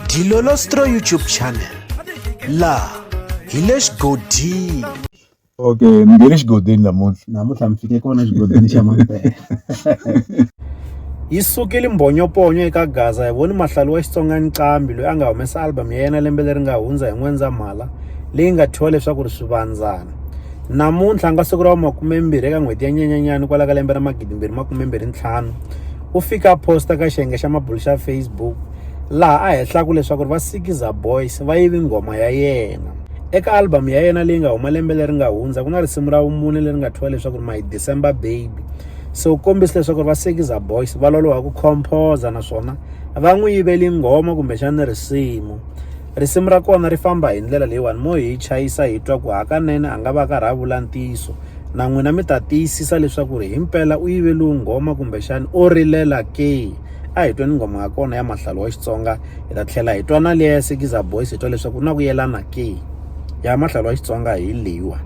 Dilolostro YouTube channel laha hi le xigodini okay ni nge le xigodini namuntlha namuntlha mi fike kona xigodini xa mampela yi sukile mbhonyoponyo eka gaza hi voni mahlalo wa xitsonga ncambi loyi a nga humesa album ya yena lembe leri nga hundza hi n'wendzamhala leyi nga thyiwa leswaku ri swivandzana namuntlha nga siku ra wa makumembirhi eka n'hweti ya nyenyanyani kwala ka lembe ra magidimbirhi makumembirhi ntlhanu u fika a posta ka xiyenge xa mabulu xa Facebook laha a hehlaku leswaku va Sikiza Boys va yivi nghoma ya yena. Eka album ya yena leyi nga huma lembe leri nga hundza ku na risimu ra vumune leri nga thyiwa leswaku My December Baby. Se u kombise leswaku va Sikiza Boys va loloha ku composer naswona va n'wi yiveli nghoma kumbexana risimu. Risimu ra kona ri famba hi ndlela leyiwani, mo hi chayisa hi twa ku hakanene a nga va karhi a vula ntiyiso. Na n'wina mi ta tiyisisa leswaku ri himpela u yive lowu nghoma kumbexani o rilela ke. A hi tweni nghoma ya kona ya Mahlalu wa Xitsonga, hi ta tlhela hi twa na liya ya Sikiza Boys hi twa leswaku ku na ku yelana ke. Ya Mahlalu wa Xitsonga hi leyiwani.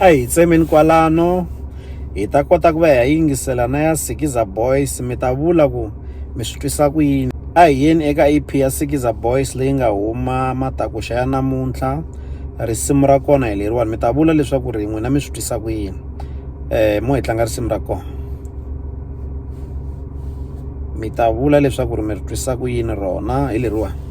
a hi tsemeni kwalano hi ta kota ku va hi yingisela na ya sikiza boys mi ta vula ku mi swi twisa ku yini a hi yeni eka ep ya sikiza boys leyi nga huma matakuxa ya namuntlha risimu ra kona hi leriwani mi ta vula leswaku ri n'wina mi swi twisa ku yini um mo hi tlanga risimu ra kona mi ta vula leswaku ri mi ri twisa ku yini rona hi leriwani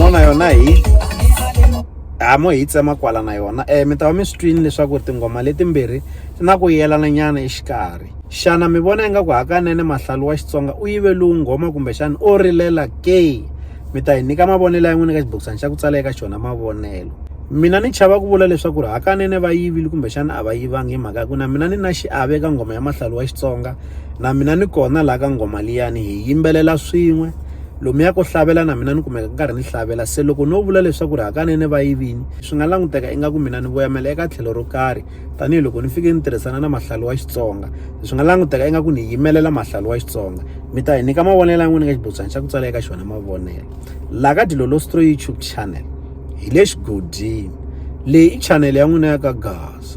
mona yona hi hamo hi tsema kwala na yona um mi ta va mi swi twini leswaku tinghoma letimbirhi ti na ku yelana nyana exikarhi xana mi vona ingaku hakanene mahlalu wa xitsonga u yive lowu nghoma kumbexana o rilela ke mi ta hi nyika mavonelo ya n'wini eka xibokisana xa ku tsala eka xona mavonelo mina ni chava ku vula leswaku ri hakanene va yivile kumbexana a va yivangi hi mhaka ya ku na mina ni na xiave eka nghoma ya mahlalu wa xitsonga na mina ni kona laha ka nghoma liyani hi yimbelela swin'we lomuya ku hlavelela na mina ni kumeka nkarhi ni hlavelela se loko no vula leswaku ri hakanene va yi vini swi nga languteka ingaku mina ni voyamela eka tlhelo ro karhi tanihiloko ni fike ni tirhisana na mahlalo wa xitsonga swi nga languteka ingaku ni yimelela mahlalo wa xitsonga mi ta hi nyika mavonelo ya n'wina ka xibutswana xa ku tsala eka xona mavonelo laha ka dilolostro youtube channel hi le xigodini leyi i chanele ya n'wina ya ka gaza